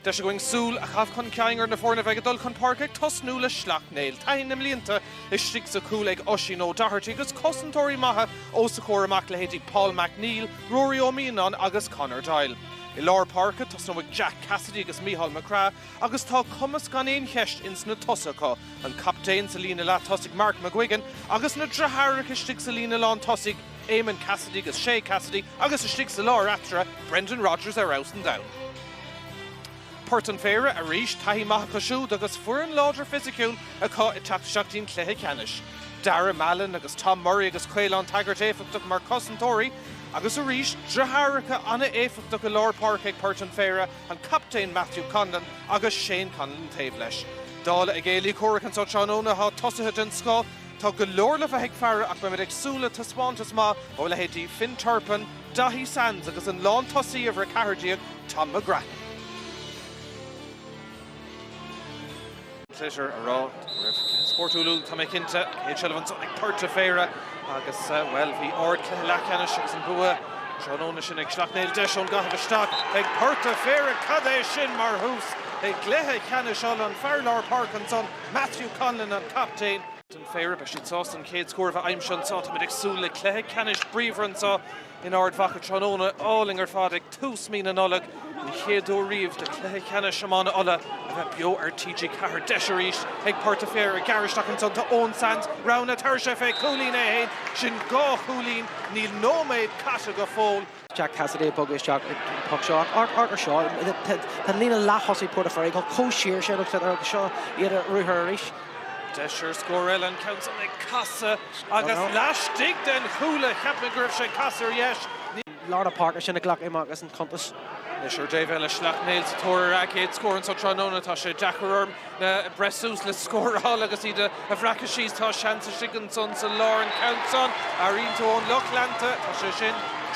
Deis againn súil a chaitheamh chun cinn ar na foirne a bheidh ag dul chun páirce ag tosnú le Sleacht Néill. Taithí na mblianta istigh sa chúl ag Oisín O'Doherty agus cosantóirí maithe os a chomhair amach, leithéidí Paul McNeill, Ruairí Ó Mianáin agus Conor Doyle. I lár páirce, tosnóidh Jack Cassidy agus Micheál McGrath agus tá cumas gan aon cheist ins na tosaigh acu, an captaen sa líne leath-tosaigh Mark McGuigan agus na driotháireacha istigh sa líne lán-tosaigh, Éamonn Cassidy agus Shéa Cassidy agus istigh sa lár eatarthu, Brendan Rogers ar fheabhas an domhain. Port an Phéire arís, taithí maith acu siúd agus foireann láidir fisiciúil acu ag teacht isteach dtí'n cluiche ceannais. Dara Mallon agus Tom Murray agus Caolán Taggart éifeachtach mar cosantóirí agus arís, driotháracha an-éifeachtach i lár páirce ag Port an Phéire, an captaen Matthew Conlon agus Shane Conlon taobh leis. Dála a gcéilí comhraic anseo tráthnóna, tá tosaithe den scoth, Tá go leor le bheith ag faire ach beimid ag súil le taispeántas maith ó leithéidí Finn Turpin, Daithí Sands agus an lántosaí uimhir 14, Tom McGrattan. Pléisiúr a rá go raibh cluiche spórtúil úd, tá mé cinnte. Céad seilbh ansan ag Port a' Phéire agus, bhuel, bhí ardchluiche leathcheannais agus an bua tráthnóna sin ag Sleacht Néill. Deis ón gcaitheamh isteach ag Port a' Phéire, cad é sin mar thús i gcluiche ceannais Uladh! An fear lár páirce ansan Matthew Conlon an captaen. don pheire. Beidh siad sásta an chéad scór a bheith aimsithe anseo. Táimid ag súil le cluiche ceannais bríomhar anseo in Ard Mhacha tráthnóna. Álainn ar fad ag tús mí na Nollag. An chéad uair riamh do chluiche ceannais iomána Uladh a bheith beo ar TG4. Deis arís ag Port a' Pheire ag gearradh isteach ansan. Tá Eoghan Sands, roghanna. Tabharfaidh sé fé chúilín é fhéin. Sin dhá chúilín. Níl nóiméad caite go fóill. Jack Cassidy ag bogadh isteach an poc seo ach amharc ar seo, tá an líne leath-thosaigh Port a' Pheire ag gabháil chomh siar sin agus seo iad ar ruathar arís. Deis ar scór eile, an ceann san ag casadh agus laistigh den chúl, cheap mé go raibh sé ag casadh ar dheis, ní. lár na páirce sin a ghlac Iománaíocht as an chuntas. Anois ar an dtaobh eile, Sleacht Néill sa tóir ar a gcéad scór anseo tráthnóna, tá sé deacair orm. le breith suas le scóráil agus iad a bhreacadh síos. Tá seans istigh ansan sa lár an ceann san. Airíonn tú ón lucht leanta, tá sé sin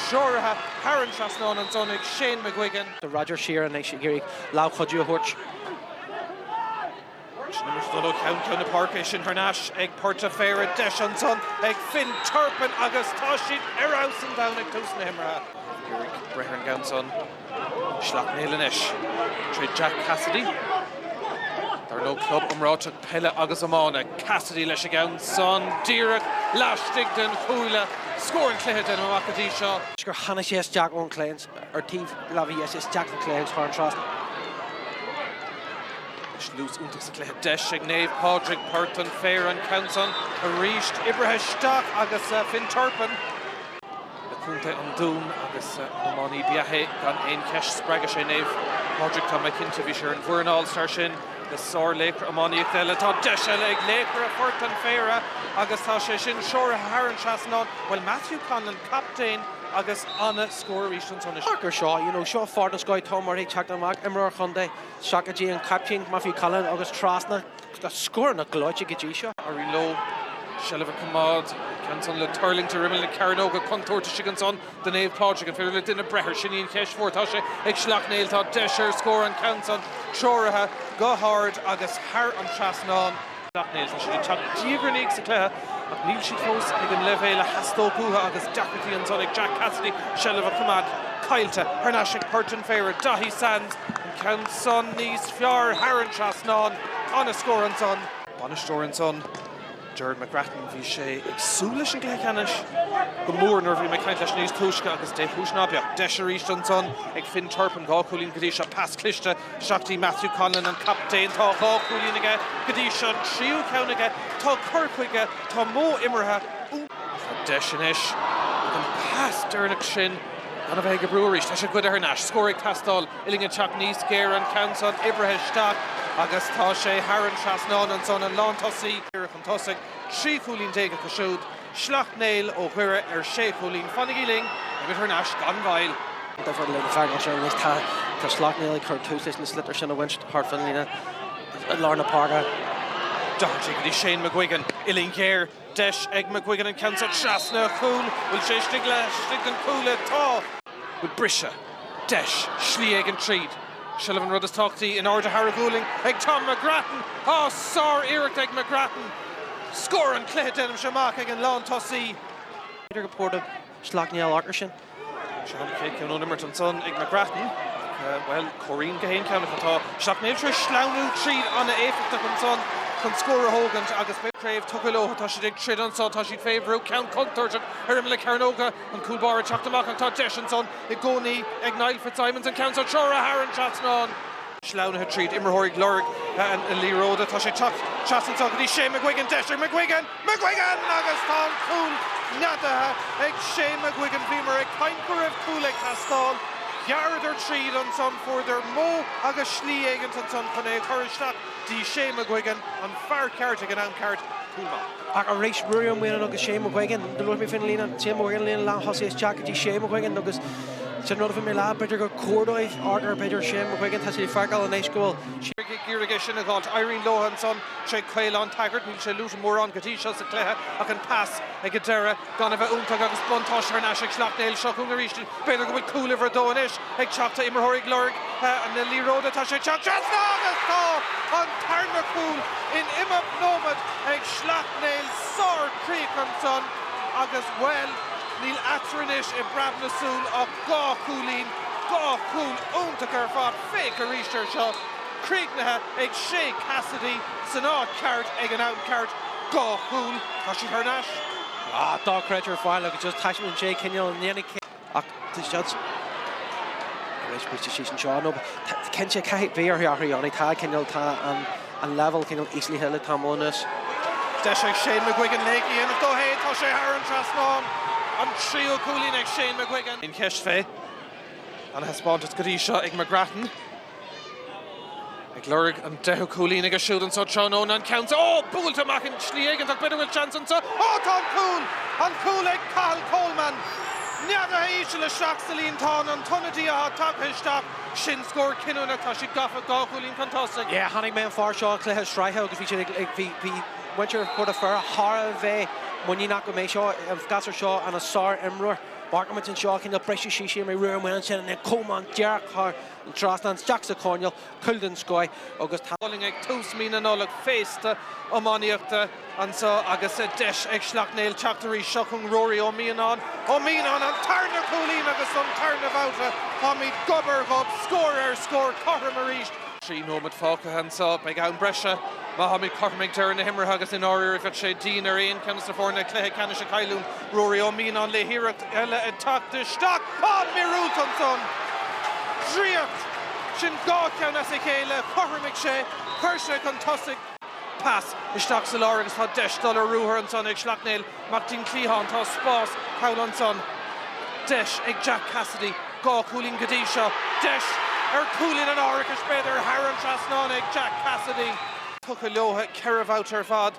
treoraithe thar an trasnán ansan ag Shane McGuigan. Tá Rogers siar anois ag iarraidh lámh chuidiú a thabhairt. Sin imirt dul ó cheann ceann na páirce, é sin thar n-ais ag Port a' Phéire. Deis ansan ag Finn Turpin agus tá siad ar fheabhas an domhan ag tús na himeartha. Ag iarraidh breith ar an gceann san. Sleacht Néill anois tré Jack Cassidy. Ar ndóigh club iomráiteach peile agus iomána. Cassidy leis an gceann san, díreach laistigh den chuaille. Scór an chluiche déanfainn amach go dtí seo. gur tháinig sé isteach ón chliathán ar taobh láimhe dheis isteach ón chliathán thar an trasnán. Dlús iontach sa chluiche. Deis ag Naomh Pádraig, Port an Phéire an ceann san arís. Oibrithe isteach agus Finn Turpin. le Contae an Dúin agus an-iománaí ab ea é gan aon cheist. Spreagadh sé Naomh Pádraig, tá mé cinnte, bhí sé ar an bhfoireann All Star sin, le sárlaochra iománaíochta eile. Tá deis eile ag laochra Phort an Phéire agus tá sé sin treoraithe thar an trasnán, bhuel Matthew Conlon, captaen agus an-scór arís ansan. Amharc ar seo, you know, seo Phort an Scáil, Tom Murray ag teacht amach, imreoir chontae, isteach go dtí an captaen Matthew Conlon agus trasna, Tá scóranna gleoite go dtí seo. Éiríonn leo seilbh a choimeád. Ceann-san le tuirlingt ar imeall na cearnóige contúirt istigh ansan do Naomh Pádraig. An féidir le duine breith air? Sin í an cheist mhór. Tá sé ag Sleacht Néill. Tá deis ar scór an ceann-san treoraithe go hard agus thar an trasnán. Sleacht Néill, tá siad ag teacht diaidh ar ndiaidh sa chluiche ach níl siad fós ag an leibhéal a theastódh uathu agus deacrachtaí ansan ag Jack Cassidy seilbh a choimeád. Caillte thar n-ais ag Port an Phéire. Daithí Sands. Ceann san níos fearr thar an trasnán. Ana scór ansan. Bainisteoir ansan, Gerard McGrattan, bhí sé ag súil leis an gcluiche ceannais go mór nuair a bhí mé ag caint leis níos túisce agus dé chúis ná beadh, deis arís ansan ag Finn Turpin, dhá chúilín go dtí seo, pas cliste isteach dtí Matthew Conlon, an captaen, tá dhá chúilín aige go dtí seo, an tríú ceann aige, tá cur chuige, tá modh imeartha, Tá deis anois ach an pas deireanach sin gan a bheith ag oibriú arís, tá sé goidte thar n-ais, scór ag teastáil. Uillinn ag teacht níos géire, an ceann san oibrithe isteach agus tá sé thar an trasnán ansan. An lántosaí ag iarraidh chun tosaigh, trí chúilín déag acu siúd, Sleacht Néill ó Dhoire ar sé chúilín. Fanaigí linn agus thar n-ais gan mhoill! An difear le na feargach seo anois, tá Sleacht Néill ag cur tús leis na sliotair sin a bhaint thart fán líne i lár na páirce. Doherty go dtí Shane McGuigan. Uillinn ghéar Deis ag McGuigan an ceann seo trasna a chúl, bhfuil sé istigh le hais an chuaille? Tá! Bhfuil briseadh, deis, slí éigin tríd? Seilbh an rud is tábhachtaí, in airde thar a ghualainn ag Tom McGrattan! Á, sár-iarracht ag McGrattan! Scór an chluiche, déanaimse amach, ag an lántosaí. B'fhéidir go dtabharfadh Sleacht Néill achar sinn. Seo an chéad ceann ón imirt ansan ag McGrattan. Bhuel, comhaireann gach aon cheann acu. Tá Sleacht Néill tar éis sleamhnú tríd an-éifeachtach ansan chun scór a thógaint agus beidh an chraobh tugtha leo. Tá siad ag troid anso, tá siad fé bhrú, ceann contúirteach ar imeall na cearnóga, an cúl báire ag teacht amach ach tá deis ansan i gcónaí ag Niall Fitzsimons an ceann seo a threorú thar an trasnán. sleamhnaithe tríd, imreoirí ag lorg na liathróide, tá sé ag teacht trasna anseo go dtí Sé McGuigan, deis ag McGuigan, McGuigan! Agus tá an cúl neadaithe ag Sé McGuigan. Bhíomar ag caint go raibh cúl ag teastáil, ghearradar tríd ansan, fuaireadar modh agus slí éigint ansan chun é a chur isteach dtí Sé McGuigan, an fear ceart ag an am ceart, cúl maith. ach arís, Ruairí Ó Mianáin agus Sé McGuigan. Luaigh mé fán líne, téann mo mhaoil an líne leath-thosaigh isteach go dtí Sé McGuigan agus sin an rud a bhí mé a lua, b'fhéidir gur cóir dóibh amharc ar, b'fhéidir, Sé McGuigan, tá siad ag feiceáil anois go bhfuil sé ag iarraidh é sin a dh'fháilt. Éiríonn leo ansan, sé Caolán Taggart, níl sé luaite mórán go dtí seo sa chluiche ach an pas ag an deireadh, Gan a bheith iontach agus buntáiste thar n-ais ag Sleacht Néill, seo chugainn arís b'fhéidir go bhfuil cúl uimhir a dó anois ag teacht, tá imreoirí ag lorg na liathróide, tá sé ag teacht trasna agus tá an tarna cúl in imeacht nóimead ag Sleacht Néill, sár-chríoch ansan agus, bhuel, níl eatarthu anois i bpreab na súl ach dhá chúilín, dhá chúl iontacha ar fad, féach arís air seo, críochnaithe ag Shea Cassidy san áit cheart ag an am ceart. Dhá chúl, tá siad thar n-ais! Ah, dochreidte ar fad agus just taispeánann sé cineál an ndéanfaidh cé. Ach tá siad sin. Tar éis briseadh síos anseo, nó tá cinnte caithfidh bheith orthu athrú a dhéanamh, tá cineál, tá an an leibhéal cineál íslithe le tamall anuas. Deis ag Shane McGuigan slí a dhéanamh dó fhéin, tá sé thar an trasnán! An tríú cúilín ag Shane McGuigan. An cheist fén taispeántas go dtí seo ag McGrattan. Ag lorg an deichiú cúilín aige siúd anso tráthnóna, an ceann seo, oh! buailte amach i slí éigeantach, b'fhéidir go bhfuil seans anso, oh! tá an cúl! an cúl ag Cathal Coleman! Neadaithe íseal isteach sa líontán, an t-ionadaí atá tagtha isteach, sin scór cinniúnach, tá siad gafa dhá chúilín chun tosaigh. Yeah, chonaic mé an fear seo i cluiche sraithe agus bhí siad ag, ag, bhí, bhí muintir Phort a' Pheire thar a bheith muiníneach go mbeidh seo, an gasúr seo ina sár imreoir. Amharcaimid anseo, cineál briseadh síos siar mé roimh an mbuille ansin, an Coleman díreach thar, trasna isteach sa choirnéal cúl den scoth agus tá. Bowling ag tús mí na Nollag, féasta iománaíochta anseo agus deis ag Sleacht Néill teacht arís. Seo chugainn Ruairí Ó Mianáin. Ó Mianáin, an tarna cúilín agus an tarna babhta táimid gob ar ghob, scór ar scór, cothrom arís. Trí nóiméad fágtha anseo, beidh am breise má táimid cothrom ag deireadh na himeartha agus i ndáiríre bheadh sé dian ar aon cheann de na foirne cluiche ceannais a chailliúint. Ruairí Ó Mianáin le hiarracht eile ag teacht isteach. Tá míorúilt ansan! Draíocht! Sin dhá cheann as a chéile, chothromaigh sé, chuir sé chun tosaigh. Pas isteach sa lár agus tá deis dul ar ruathar ansan ag Sleacht Néill. Amach go dtí an cliathán, tá spás thall ansan. Deis ag Jack Cassidy, dhá chúilín go dtí seo. Deis ar chúilín an árachais b'fhéidir, thar an trasnán ag Jack Cassidy. Tugtha leotha ceithre bhabhta ar fad.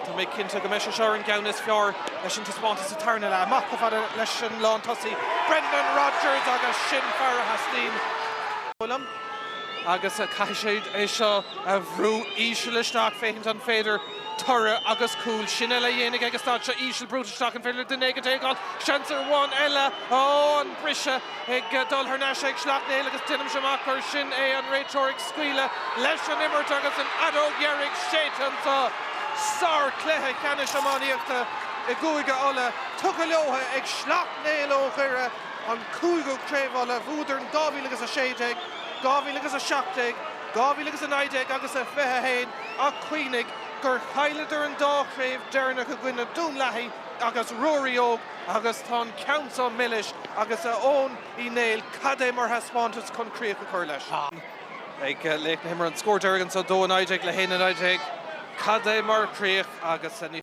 Tá mé cinnte go mbeidh sé seo ar an gceann is fearr leis an taispeántas sa tarna leath. Amach chomh fada leis an lán tosaí, Brendan Rogers agus sin fear a theastaíonn uaidh agus caithfidh siad é seo a bhrú íseal isteach féachaint an féidir toradh agus cúl sin eile a dhéanamh acu. Stad seo íseal, brúite isteach, an féidir le duine acu teagmháil? Seans amháin eile, oh an briseadh! ag dul thar n-ais ag Sleacht Néill agus deinimse amach gur sin é an réiteoir ag scaoileadh leis an imirt agus an fheadóg dheiridh séidte anso! Sárchluiche ceannais iománaíochta i gCúige Uladh tugtha leotha ag Sleacht Néill ó Dhoire, an cúigiú Craobh Uladh bhuadar in 2016, 2017, 2019 agus i 21 ach cuimhnigh gur chailleadar an dá chraobh deireanach i gcoinne Dún Lathaí agus Ruairí Óg. Agus tá an ceann seo milis, agus a Eoin Uí Néill, cad é mar thaispeántas chun críoch a chur leis? ag Sleacht Néill, an scór deiridh anseo, 2-19 le 1-19, cad é mar chríoch agus ní.